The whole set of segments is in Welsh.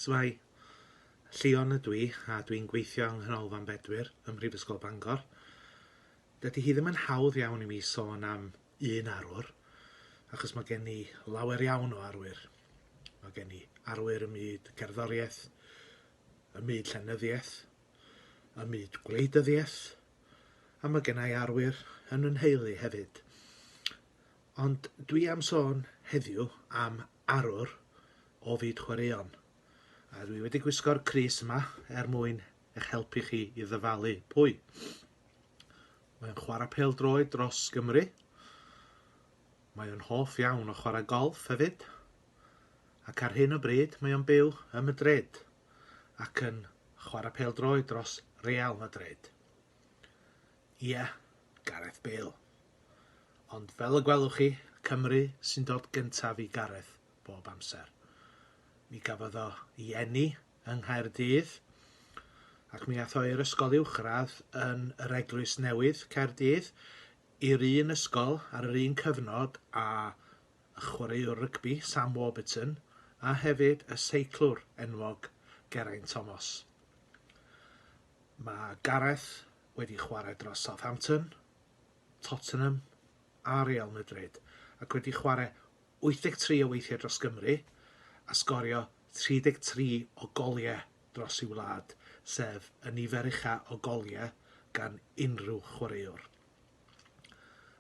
Shwmae, Llion ydw i a dwi'n gweithio yng Nghanolfan Bedwyr ym Mhrifysgol Bangor. Dydy hi ddim yn hawdd iawn i mi sôn am un arwr, achos mae gen i lawer iawn o arwyr. Mae gen i arwyr ym myd cerddoriaeth, ym myd llenyddiaeth, ym myd gwleidyddiaeth, a mae gen i arwyr yn yn nheulu hefyd. Ond dwi am sôn heddiw am arwr o fyd chwaraeon, a dwi wedi gwisgo'r crys yma er mwyn eich helpu chi i ddyfalu pwy. Mae o'n chwarae pel droed dros Gymru. Mae o'n hoff iawn o chwarae golf hefyd. Ac ar hyn o bryd mae o'n byw ym Madrid ac yn chwarae pel droed dros Real Madrid. Ie, Gareth Bale. Ond fel y gwelwch chi, Cymru sy'n dod gyntaf i Gareth bob amser. Mi gafodd o i eni yng Nghaerdydd ac mi ath o i'r ysgol uwchradd yn yr Eglwys Newydd, Caerdydd, i'r un ysgol ar yr un cyfnod a y chwaraewr rygbi Sam Warburton a hefyd y seiclwr enwog Geraint Thomas. Mae Gareth wedi chwarae dros Southampton, Tottenham a Real Madrid ac wedi chwarae 83 o weithiau dros Gymru a sgorio 33 o goliau dros ei wlad, sef y nifer ucha o goliau gan unrhyw chwaraewr.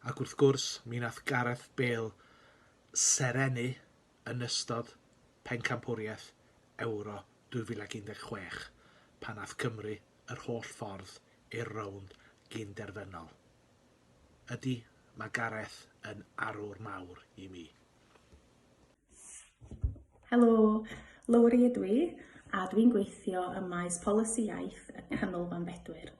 Ac wrth gwrs, mi nath Gareth Bale serennu yn ystod Pencampwriaeth Ewro 2016 pan aeth Cymru yr holl ffordd i'r rownd gyn-derfynol. Ydy, mae Gareth yn arwr mawr i mi. Helo, Lowri ydw i, a dwi'n gweithio ym maes polisi iaith y Canolfan Bedwyr.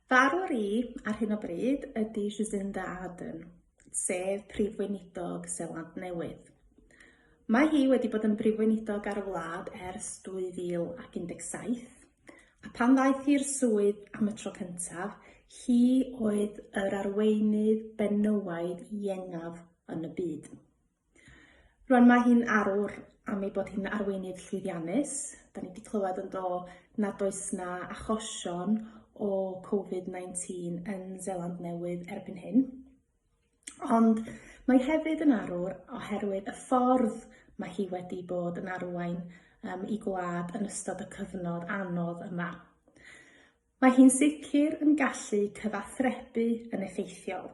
Fy arwr i ar hyn o bryd ydy Jacinda Ardern, sef Prif Weinidog Seland Newydd. Mae hi wedi bod yn Brif Weinidog ar y wlad ers 2017, a pan ddaeth hi'r swydd am y tro cyntaf, hi oedd yr arweinydd benywaidd iengaf yn y byd. Rwan mae hi'n arwr am ei bod hi'n arweinydd llwyddiannus. Da ni wedi clywed yn do nad oes na achosion o Covid-19 yn Zeland Newydd erbyn hyn. Ond mae hefyd yn arwr oherwydd y ffordd mae hi wedi bod yn arwain um, i gwlad yn ystod y cyfnod anodd yma. Mae hi'n sicr yn gallu cyfathrebu yn effeithiol.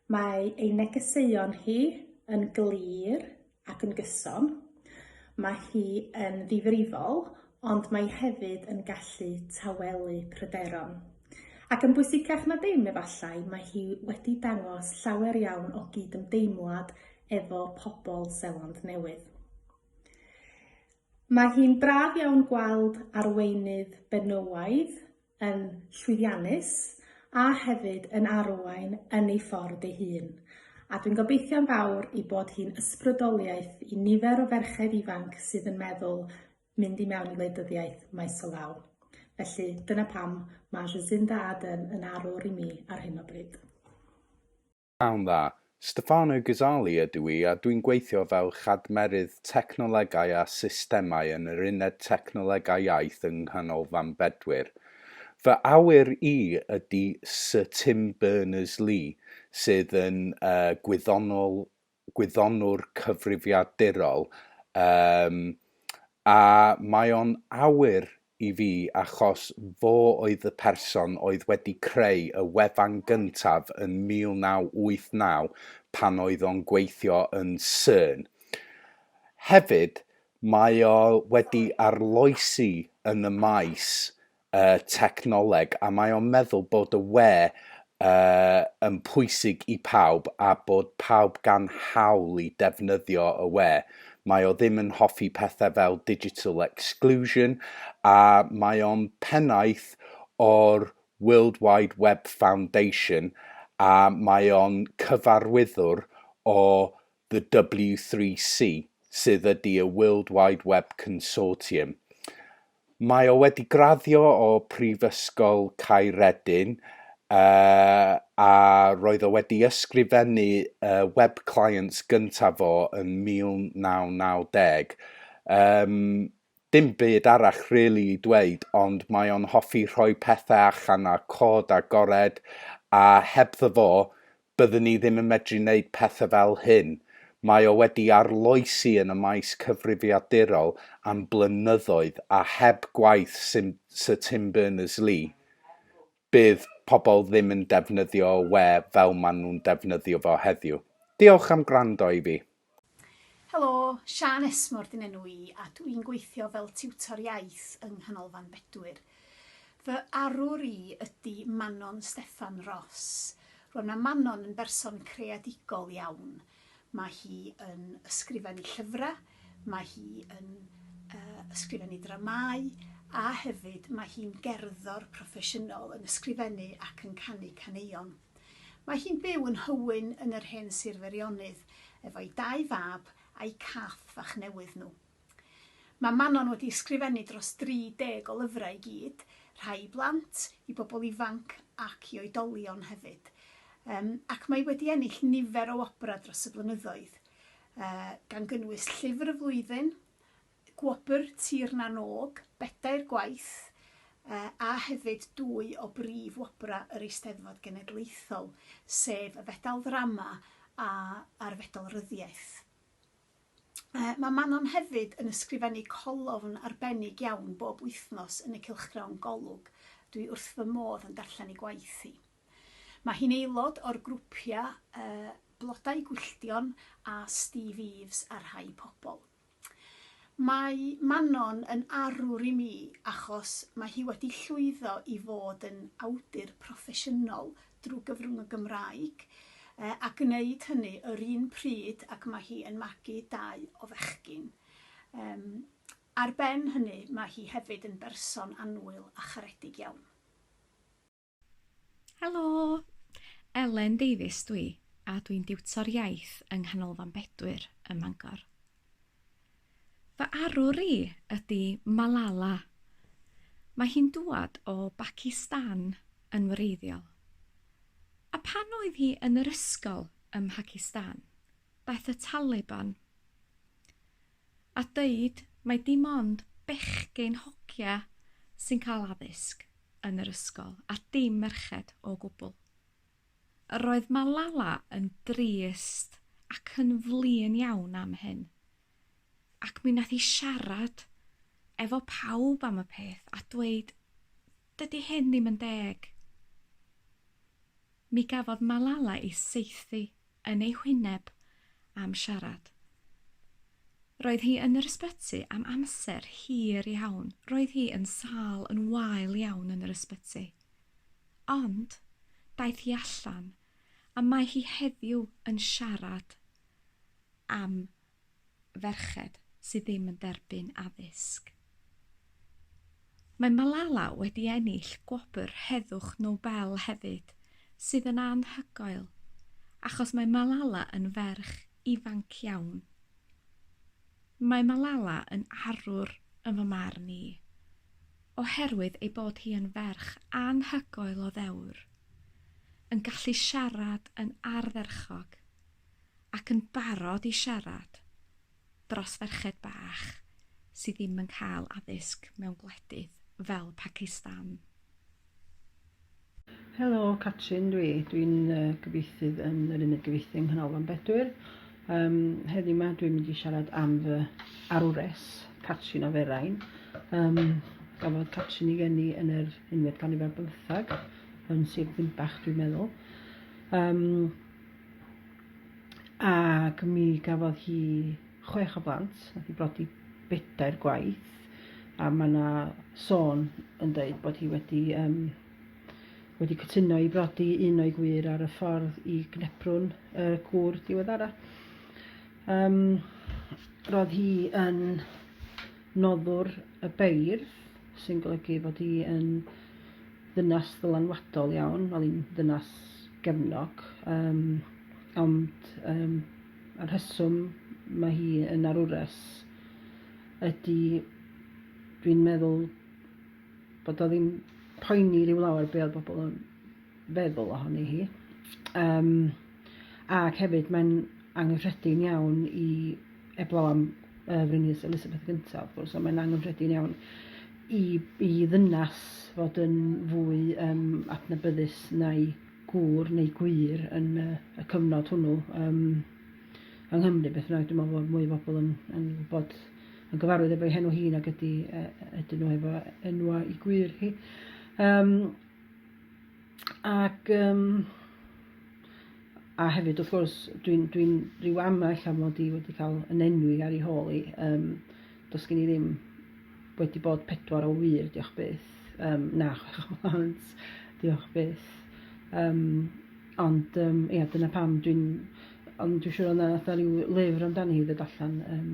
Mae ei negeseuon hi yn glir ac yn gyson. Mae hi yn ddifrifol, ond mae hefyd yn gallu tawelu pryderon. Ac yn bwysicach na dim, efallai, mae hi wedi dangos llawer iawn o gydymdeimlad efo pobl Seland Newydd. Mae hi'n braf iawn gweld arweinydd benywaidd yn llwyddiannus a hefyd yn arwain yn ei ffordd ei hun, a dwi'n gobeithio'n fawr ei bod hi'n ysbrydoliaeth i nifer o ferched ifanc sydd yn meddwl mynd i mewn i wleidyddiaeth maes o law. Felly, dyna pam mae Jacinda Ardern yn arwr i mi ar hyn o bryd. Pnawn dda. Stefano Ghizzali ydw i a dwi'n gweithio fel Chadmerydd Technolegau a Systemau yn yr Uned Technolegau Iaith yng Nghanolfan Bedwyr. Fy awyr i ydy Syr Tim Berners-Lee, sydd yn gwyddonol, gwyddonwr cyfrifiadurol, yym, a mae o'n awyr i fi achos fo oedd y person oedd wedi creu y wefan gyntaf yn 1989 pan oedd o'n gweithio yn Cern. Hefyd, mae o wedi arloesi yn y maes y technoleg a mae o'n meddwl bod y we y yn pwysig i pawb a bod pawb gan hawl i defnyddio y we, mae o ddim yn hoffi pethau fel digital exclusion a mae o'n pennaeth o'r World Wide Web Foundation a mae o'n cyfarwyddwr o the W3C, sydd ydy y World Wide Web Consortium. Mae o wedi graddio o Prifysgol Caeredin uh, a roedd o wedi ysgrifennu uh, web clients gyntaf fo yn 1990. Um, dim byd arall rili really i dweud, ond mae o'n hoffi rhoi pethau allan a cod a gored, a hebddo fo, Byddwn ni ddim yn medru neud pethe fel hyn. Mae o wedi arloesi yn y maes cyfrifiadurol am blynyddoedd a heb gwaith Sir Tim Berners-Lee, bydd pobl ddim yn defnyddio we fel maen nhw'n defnyddio fo heddiw. Diolch am gwrando i fi. Helo, Siân Esmor dyn enw i a dw i'n gweithio fel tiwtor iaith yng Nghanolfan Bedwyr. Fy arwr i ydy Manon Steffan Ross. Rwan mae Manon yn berson creadigol iawn. Mae hi yn ysgrifennu llyfrau, mae hi yn ysgrifennu dramâu a hefyd mae hi'n gerddor proffesiynol yn ysgrifennu ac yn canu caneuon. Mae hi'n byw yn Nhywyn yn yr hen Sir Feirionnydd efo'i dau fab a'u cath fach newydd nhw. Mae Manon wedi ysgrifennu dros 30 o lyfrau i gyd, rhai i blant, i bobl ifanc ac i oedolion hefyd. Yym ac mae wedi ennill nifer o wobrau dros y blynyddoedd, yy gan gynnwys Llyfr y Flwyddyn Gwobr Tir na n-Og, bedair gwaith, a hefyd dwy o brif wobrau yr Eisteddfod Genedlaethol, sef y Fedal Ddrama a a'r Fedal Ryddiaith. Mae Manon hefyd yn ysgrifennu colofn arbennig iawn bob wythnos yn y cylchgrawn Golwg, dwi wrth fy modd yn darllen ei gwaith hi. Mae hi'n aelod o'r grwpiau Blodau Gwylltion a Steve Eaves a Rhai Pobl. Mae Manon yn arwr i mi achos mae hi wedi llwyddo i fod yn awdur proffesiynol drwy gyfrwng y Gymraeg a gwneud hynny yr un pryd ac mae hi yn magu dau o fechgyn. Ar ben hynny mae hi hefyd yn berson annwyl a charedig iawn. Helo! Elen Davies dwi, a dwi'n diwtor iaith yng Nghanolfan Bedwyr ym Mangor. Fy arwr i ydy Malala. Mae hi'n dŵad o Bacistan yn wreiddiol. A pan oedd hi yn yr ysgol ym Mhacistan, daeth y Taliban a deud mai dim ond bechgyn hogia sy'n cael addysg yn yr ysgol a dim merched o gwbl. Yr oedd Malala yn drist ac yn flin iawn am hyn, ac mi nath hi siarad efo pawb am y peth a dweud, Dydy hyn ddim yn deg. Mi gafodd Malala ei saethu yn ei hwyneb am siarad. Roedd hi yn yr ysbyty am amser hir iawn, roedd hi yn sâl yn wael iawn yn yr ysbyty. Ond, daeth hi allan, a mae hi heddiw yn siarad am ferched sydd ddim yn derbyn addysg. Mae Malala wedi ennill gwobr Heddwch Nobel hefyd, sydd yn anhygoel, achos mae Malala yn ferch ifanc iawn. Mae Malala yn arwr yn fy marn i, oherwydd ei bod hi yn ferch anhygoel o ddewr, yn gallu siarad yn ardderchog, ac yn barod i siarad dros ferched bach sy ddim yn cael addysg mewn gwledydd fel Pacistan. Helo, Catrin dwi. Dwi'n uh, gyfieithydd yn yr uned gyfieithu yng Nghanolfan Bedwyr. Um, heddi yma dwi'n mynd i siarad am fy arwres, Catrin o Ferain. Um, gafodd Catrin i geni yn yr unfed ganrif ar bymthag, yn Sir Ddinbach dwi'n meddwl. Um, Ac mi gafodd hi chwech o blant, nath hi brodi bedair gwaith, a mae yna sôn yn dweud bod hi wedi, um, wedi cytuno i brodi un o'i gwir ar y ffordd i gneprwn y gŵr diweddara. Um, roedd hi yn noddwr y beirdd, sy'n golygu bod hi yn ddynas ddylanwadol iawn, wel i'n ddynas gefnog, um, ond um, y rheswm mae hi yn arwres ydy dwi'n meddwl bod o ddim poeni rhyw lawer be oedd bobl yn feddwl ohoni hi. Um, ac hefyd mae'n anghyffredin iawn i eblaw am uh, Frynius Elizabeth gyntaf, wrth gwrs, ond mae'n anghyffredin iawn i, i ddynas fod yn fwy um, adnabyddus na'i gŵr neu gwir yn uh, y cyfnod hwnnw um, yng Nghymru. Beth bynnag, dwi'n meddwl bod mwy o bobl yn, yn bod yn gyfarwydd efo'i henw hi nag ydy, uh, ydyn nhw efo enwa i gwir hi. Um, Ac um, a hefyd wrth gwrs dwi'n dwi, rhyw ama ella mod i wedi cael yn enwi ar ei hôl i. Um, does gen i ddim wedi bod pedwar o wir, diolch byth. Um, na, chwech o lawns, diolch byth. Um, ond um, ia, dyna pam dwi'n... Ond dwi'n siŵr o'na fatha rhyw lyfr amdani i ddod allan. Um,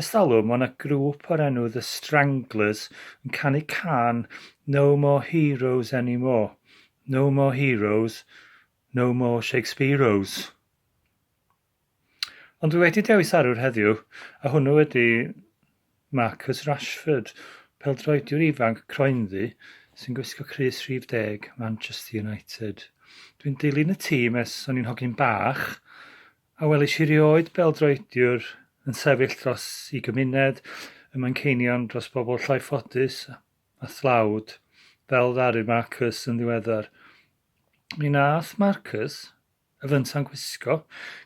Ers talwm, mae yna grŵp o'r enw The Stranglers yn canu cân No More Heroes Anymore, No More Heroes, No More Shakespeareos. Ond dwi wedi dewis arwr heddiw, a hwnnw ydy Marcus Rashford, peldroediwr ifanc croenddu sy'n gwisgo crys rhif deg Manchester United. Dwi'n dilyn y tîm ers o'n i'n hogyn bach, A welis i 'rioed bêl-droediwr yn sefyll dros i gymuned ym Manceinion dros bobl llai ffodus a thlawd, fel ddaru Marcus yn ddiweddar. Mi wnaeth Marcus, y fynta'n gwisgo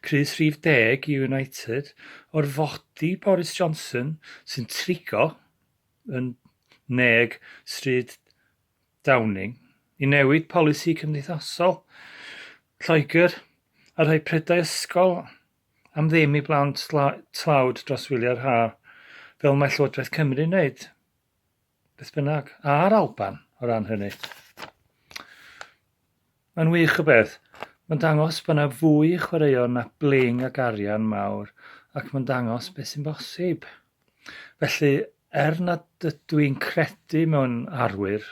crys rhif deg i United, orfodi Boris Johnson, sy'n trigo yn neg stryd Downing i newid polisi cymdeithasol Lloegr a rhoi prydau ysgol am ddim i blant tlawd dros wyliau'r haf, fel mae Llywodraeth Cymru'n wneud, beth bynnag, a'r Alban o ran hynny. Mae'n wych o beth. Mae'n dangos bod 'na fwy i chwaraeon na bling ac arian mawr ac mae'n dangos beth sy'n bosib. Felly, er nad ydw i'n credu mewn arwyr,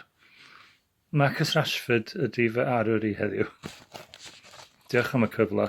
Marcus Rashford ydy fy arwyr i heddiw. Diolch am y cyfle.